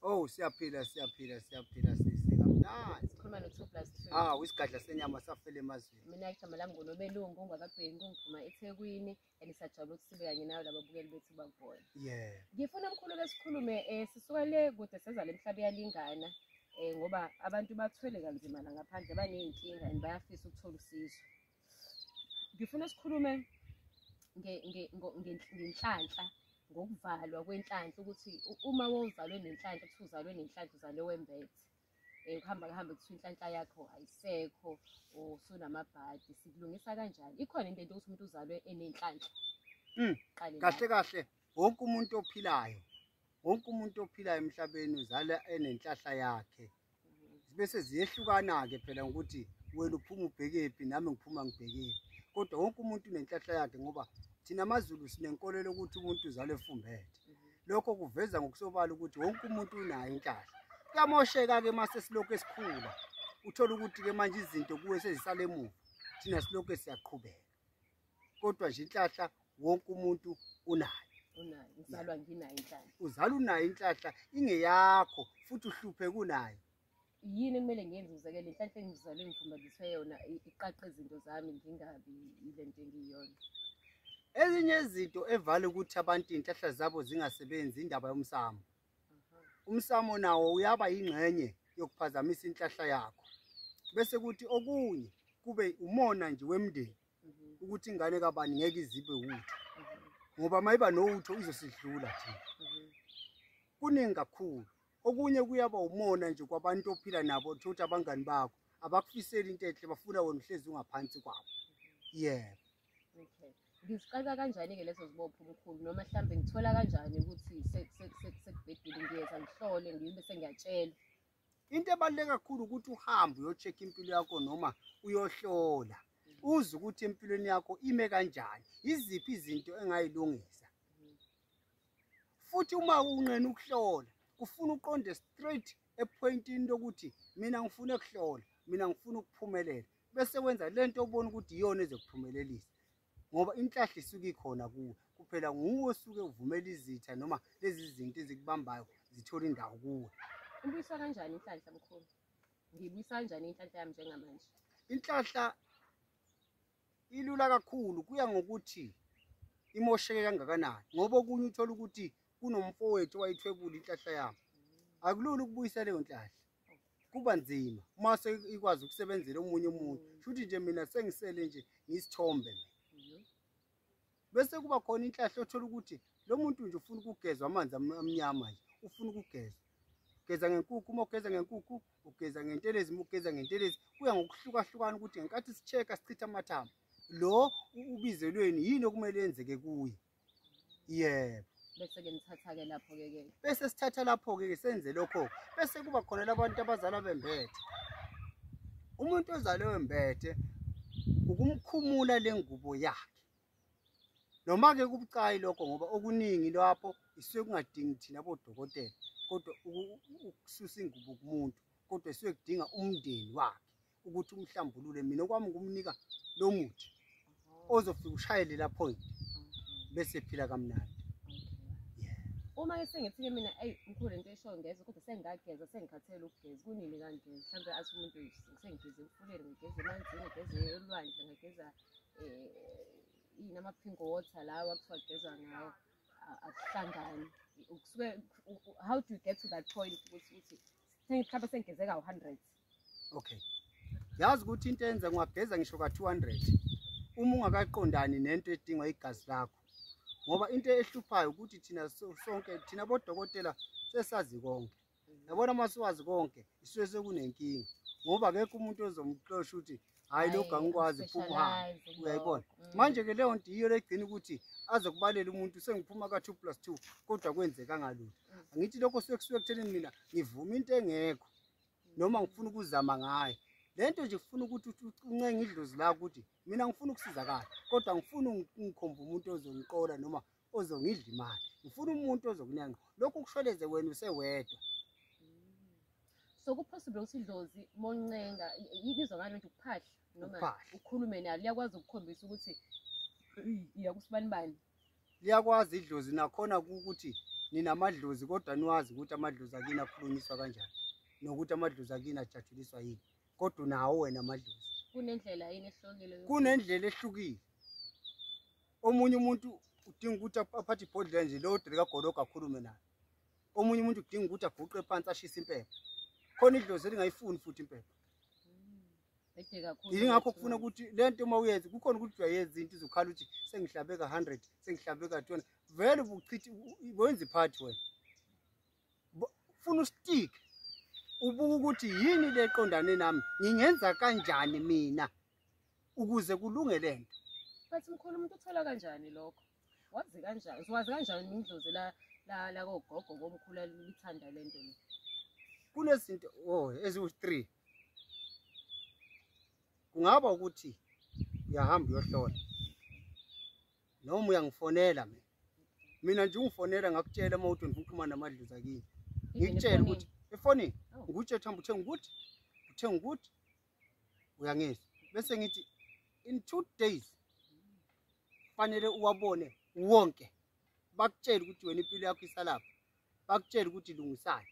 Oh siyaphila siyaphila siyaphila sisi kamnandi. Sikhuluma no 2 plus 2. Ah wisigadla senyama safele emazweni. Mina igama lami ngonobelungu ongakabheki ngiphuma eThekwini and sajabula ukuthi sibe kanye nawe lababukeli bethu bakubona. Yeah. Ngifuna mkhulu ke sikhulume eh sisuka le kude seza lemhlaba yalingana eh ngoba abantu bathwele kanzima la ngaphandle baneyinkinga and bayafisa ukuthola usizo. ngifuna sikhulume ngenhlanhla ngokuvalwa kwenhlanhla ukuthi uma wozalwe nenhlanhla kuthi uzalwe nenhlanhla uzalwe wembethe um kuhamba kuhambe kuthiwa inhlanhla yakho ayisekho or sunamabhadi sikulungisa kanjani ikhona into ento ukuthi umuntu uzalwe enenhlanhla hmm, kahle kahle wonke umuntu ophilayo wonke umuntu ophilayo emhlabeni uzala enenhlahla yakhe bese ziyehlukana-ke phela ngokuthi wena uphuma ubhekephi nami ngiphuma ngibhekephi kodwa wonke umuntu unenhlahla yakhe ngoba thina amazulu sinenkolelo ukuthi umuntu uzalwe efumbethe lokho kuveza ngokusobala ukuthi wonke umuntu unayo inhlahla kuyamosheka-ke uma sesilokhu esikhula uthole ukuthi-ke manje izinto kuwe sezisale emuva thina silokhu siyaqhubeka kodwa nje inhlahla wonke umuntu unayo uzalwa nginayo inhlahla uzalwa unayo inhlahla ingeyakho futhi uhluphe kunayo yini ekumele ngenze uzeke le nhlahla engizalwe ngifundiswe yona iqaqe izinto zami ngingabi ile nto engiyona ezinye izinto evale ukuthi abantu inhlahla zabo zingasebenzi indaba yomsamo umsamo nawo uyaba yingxenye yokuphazamisa inhlahla yakho bese kuthi okunye kube umona nje wemndeni ukuthi ingane kabani ngeke izibe wutho ngoba mayiba nowutho izosidlula thina kuningi kakhulu okunye kuyaba umona nje kwabantu ophila nabo thothi abangani bakho abakufiseli into enhle bafuna wena uhlezi ungaphansi kwabo yebo Okay. Ngizixaka kanjani-ke lezo zibopho mkhulu noma mhlawumbe ngithola kanjani ukuthi sekubhedile ngiyeza ngihlole ngibe sengiyatshelwa. Into ebaluleke kakhulu ukuthi uhambe uyocheck impilo yakho noma uyohlola. Uze ukuthi empilweni yakho ime kanjani. Iziphi izinto engayilungisa. Futhi uma unqena ukuhlola, kufuna uqonde straight epointini lokuthi mina ngifuna ukuhlola, mina ngifuna ukuphumelela. bese wenza le nto obona ukuthi iyona ezokuphumelelisa ngoba inhlahla isuke ikhona kuwe kuphela nguwe osuke uvumela izitha noma lezi zinto ezikubambayo zithola indawo kuwe ubuyiswa kanjani inhlanhla mkhulu ngibuyisa kanjani inhlanhla yami njengamanje inhlahla ilula kakhulu kuya ngokuthi imosheke kangakanani ngoba okunye uthola ukuthi kunomfowethu owayithwebula inhlahla yami akulula ukubuyisa leyo nhlahla kuba nzima uma ikwazi ukusebenzela omunye umuntu shuthi nje mina sengisele nje ngisithombe mina bese kuba khona inhlahla othola ukuthi lo muntu nje ufuna ukugezwa amanzi amnyama nje ufuna ukugezwa ugeza ngenkukhu uma ugeza ngenkukhu ugeza ngentelezi uma ugeza ngentelezi kuya ngokuhlukahlukana ukuthi ngenkathi si-check-a sichitha amathambo lo ubizelweni yini okumele yenzeke kuye yebo bese ke nithatha ke lapho ke ke bese sithatha lapho ke senze lokho bese kuba khona labantu abazalwa bembethe umuntu ozalwe wembethe ukumkhumula lengubo yakhe noma ke kubucayi lokho ngoba okuningi lapho isuke kungadingi thina bodokotela kodwa ukususa ingubo kumuntu kodwa isuke kudinga umndeni wakhe ukuthi umhlambulule mina okwami ukumnika lo muthi ozofika ushayele la point bese phila kamnandi uma ke sengithi-ke mina eyi mkhulu into eshoyo ngeze kodwa sengingageza sengikhathele ukugeza kunini kanje mhlawumbe athi umuntu sengigeze emfuleni ngigeze emanzini ngigeze elwandle ngigeza um yini ama-pink water lawa kuthiwa kugezwa ngawo akuhlangani kusuke how do you get to that point ukuthi uthi mhlawumbe sengigeze kawu-hundred okay yazi ukuthi into enza ngwageza ngisho ka 200 uma ungakaqondani nento edingwa igazi lakho ngoba into ehluphayo ukuthi thina sonke thina bodokotela sesazi konke yabona uma siwazi konke isuke sekunenkinga ngoba akekho umuntu ozomxosha ukuthi hhayi lokhu angikwazi phuma uhambe uyayibona mm. manje-ke leyo nto yiyo legcina ukuthi azokubalela umuntu sengiphuma ka-two plus two kodwa kwenzeka ngalutho mm. angithi lokho sekusuke ekuthenini mina ngivume into engekho noma ngifuna ukuzama ngayo lento nje kufuna ukuthi uncenge idlozi lakho ukuthi mina ngifuna ukusizakala kodwa ngifuna ngikhomba umuntu ozongiqola noma ozongidla imali ngifuna umuntu ozokunenqa lokhu kushweleze wena usewedwa so kupossible ukuthi idlozi moncenga ibizwa ngani manje ukuphahla noma ukhulume nalo liyakwazi ukukhombisa ukuthi iyakusibanibani liyakwazi idlozi nakhona ukuthi ninamadlozi kodwa niwazi ukuthi amadlozi akini akhulunyiswa kanjani nokuthi amadlozi akini ajatshuliswa yini kodwa unawo wena amadlozi kunendlela yini ehlukile kunendlela ehlukile omunye umuntu udinga ukuthi aphathe ibhodlela nje leyo dre kagologo akhulume nayo omunye umuntu udinga ukuthi aguqe phansi ashise impepha khona idlozi elingayifuni futhi impepha yingakho kufuna ukuthi le nto uma uyenze kukhona ukuthi uyayenza into izokhala ukuthi sengihlabeka 100 sengihlabeka 200 vele ubuchithi wenza iphathi wena funa ustick ubuka ukuthi yini le qondane nami ngingenza kanjani mina ukuze kulunge le nto bathi mkhulu umuntu uthola kanjani lokho wazi kanjani uwazi kanjani indlozi la la la kogogo komkhulu lithanda lento le kunezinto oh eziwu 3 kungaba ukuthi uyahamba uyohlola noma uyangifonela mina mina nje ungifonela ngakutshela uma uthi ngifuna ukuxhumana namadluza kini ngikutshela ukuthi efonini oh. ngikutshe thamba uthenga ukuthi uthenga ukuthi uyangizwa bese ngithi in two days fanele uwabone wonke bakutshele ukuthi wena impilo yakho isalapha bakutshela ukuthi lungisani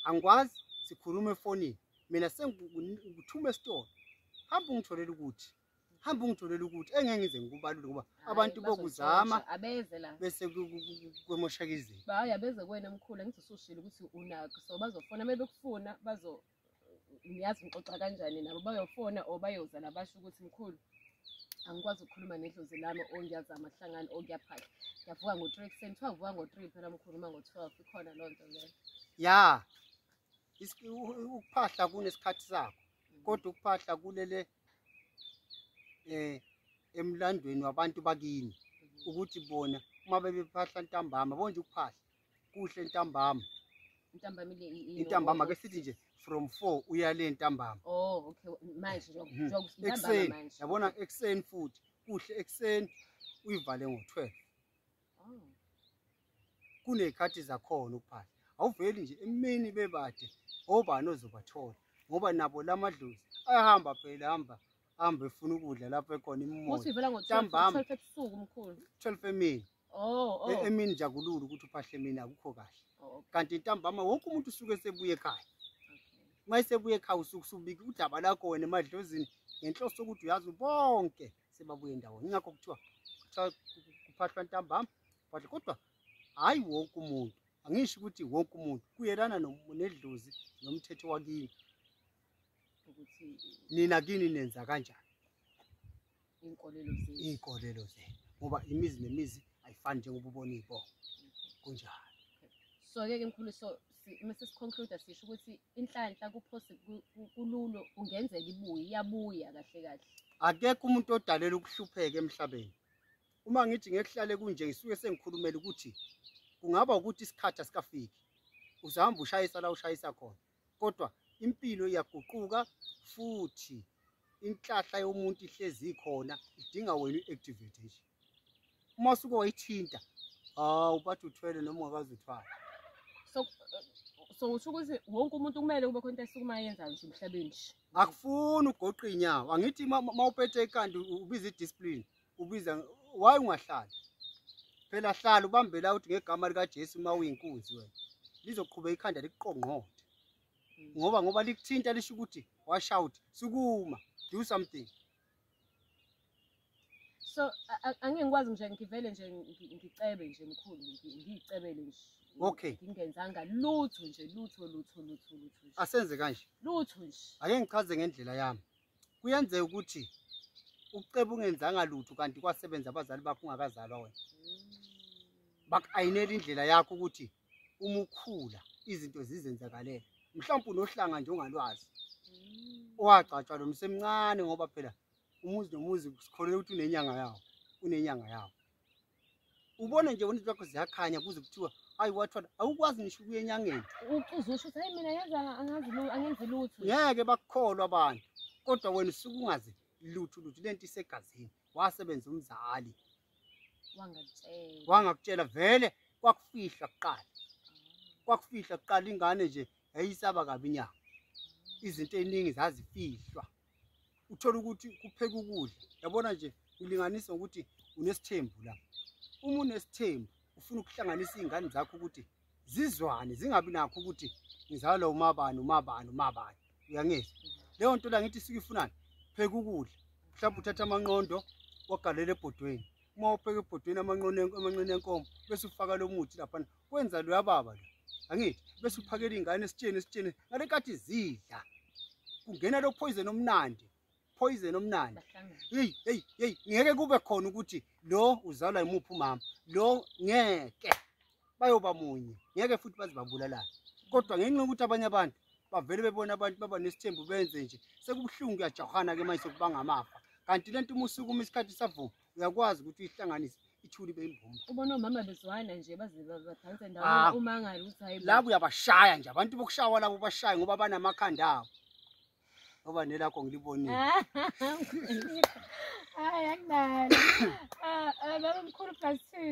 angikwazi sikhuluma efonini mina sengikuthuma esitolo hamba ungitholele ukuthi hamba ungitholele ukuthi engeke ngize ngikubalule ngoba abantu bokuzama abeze la bese kwemoshaka izinto hayi abeze kwena mkhulu ngizosushila ukuthi unakho so bazofona uma bekufuna bazo niyazi ngixoxa kanjani nabo bayofona or bayoza labasho ukuthi mkhulu angikwazi ukukhuluma nedlozi lami o ngiyazama kuhlangana o ngiyaphahla ngiyavuka ngo-three ekuseni kuthiwa ngivuka ngo-three phela mkhulu uma ngo-twelve ikhona loo nto leyo ya ukuphahla kunesikhathi sakho mm. kodwa ukuphahla kulele um emlandweni wabantu bakini mm-hmm. ukuthi bona uma bebephahla ntambama bonje ukuphahla kuhle ntambama ntambama le intambama ke sithi nje from 4 uya le ntambama oh okay manje mhm. njengoba ntambama manje yabona ekseni futhi kuhle ekseni uyivale ngo12 oh kunekhathi zakhona ukuphahla awuveli nje emini bebade obani ozobathola ngoba nabo lamadlozi ayahamba phela hamba hamba efuna ukudla lapho ekhona imimoya ntambama 12 emini oh, oh. E-, emini jagulula ukuthi uphahle emini akukho kahle oh, kanti ntambama wonke umuntu usuke sebuye ekhaya uma esebuye ekhaya usuke usubika udaba lakho wena emadlozini ngenhloso sokuthi uyazi bonke sebabuye ndawonye ingakho kuthiwa kuphahlwa ntambama phahle kodwa hhayi wonke umuntu angisho ukuthi wonke umuntu kuyelana nedlozi nomthetho wakini nina kini nenza kanjani iy'nkolelo zenu iy'nkolelo zenu ngoba imizi nemizi ayifani njengoba ubona iy'bongo kunjalo so-ke ke mkhulu so uma sesiconcluda sisho ukuthi inhlanhla kululu kungenzeka ibuye iyabuya kahle kahle akekho umuntu odalela ukuhlupheka emhlabeni uma ngithi ngekuhlale kunje ngisuke sengikhulumela ukuthi kungaba ukuthi isikhathi asikafiki uzahamba ushayisa la ushayisa khona kodwa impilo iyaguquka futhi inhlahla yomuntu ihlezi ikhona idinga wena i-activate nje uma usuke wayithinta hawu bathi uthwele noma ungakazi uthwala so so usho ukuthi wonke umuntu kumele kube khona into esukuma yenzayo nje emhlabeni nje akufuni ugoqa inyawo angithi uma upethe ikhanda ubiza i-discipline ubiza why ungahlali phela hlala ubambela uthi ngegama likaJesu uma uyinkunzi wena lizoqhubeka ikhanda likuqongqothe mm. ngoba ngoba likuthinta lisho ukuthi washout sukuma do something so angeke ngikwazi nje ngivele nje ngicebe nje mkhulu ngiyicebele nje okay ngingenzanga lutho nje lutho lutho lutho lutho asenze kanje lutho nje ake ngichaze ngendlela yami kuyenzeka ukuthi ukuceba ungenzanga lutho kanti kwasebenza abazali bakho ungakazalwa wena baku-ayinela indlela yakho ukuthi uma ukhula izinto zizenzakalele mhlawumpe unohlanga nje ongalwazi owagcatshwa lo msemncane ngoba phela umuzi nomuzi sikholelwa ukuthi unenyanga yawo unenyanga yawo ubona nje wena zakho ziyakhanya kuze kuthiwa hayi wathwala awukwazi ngisho ukuya enyangeni uqiza usho ukuthi hayi mina yenza angazi lutho angenzi lutho ngeke bakukholwa abantu kodwa wena usuke ungazi lutho lutho lento isegazini wasebenza umzali wangakutshela wangakutshela vele kwakufihla kuqala kwakufihla kuqala ingane nje yayisaba kabi inyanga izinto eziningi zazifihlwa uthole ukuthi kupheka ukudla yabona nje ulinganisa ngokuthi unesithembu la uma unesithembu ufuna ukuhlanganisa iy'ngane zakho ukuthi zizwane zingabi nakho ukuthi ngizalwa umabani umabani umabani uyangizwa leyo nto la ngithi suke ifunani pheka ukudla mhlawumbe uthatha amanqondo wagalela ebhodweni uma upheka ebhodweni amanqondo amanqondo enkomo bese ufaka lo muthi laphana kwenza loya baba lo angithi bese uphakela ingane esitsheni esitsheni ngale kathi zidla kungena lo poison omnandi poison omnandi hey hey hey ngeke kube khona ukuthi lo uzalwa imuphi umama lo ngeke bayoba munye ngeke futhi bazibabulalana kodwa ngenxa yokuthi abanye abantu bavele bebona abantu baba nesithembu benze nje sekubuhlungu kuyajahana ke manje sokubanga amafa kanti lento uma usukuma isikhathi savuma uyakwazi ukuthi uyihlanganise ithuli beyimbumba ubona omama bezwana nje baze badanse ah. ndawona umangale ukuthi hayi labo uyabashaya nje abantu bokushawa labo bashaye ngoba banamakhanda abo ngoba nelakho ngilibonile hayi akunalo ah, ah, baba mkhulu plus two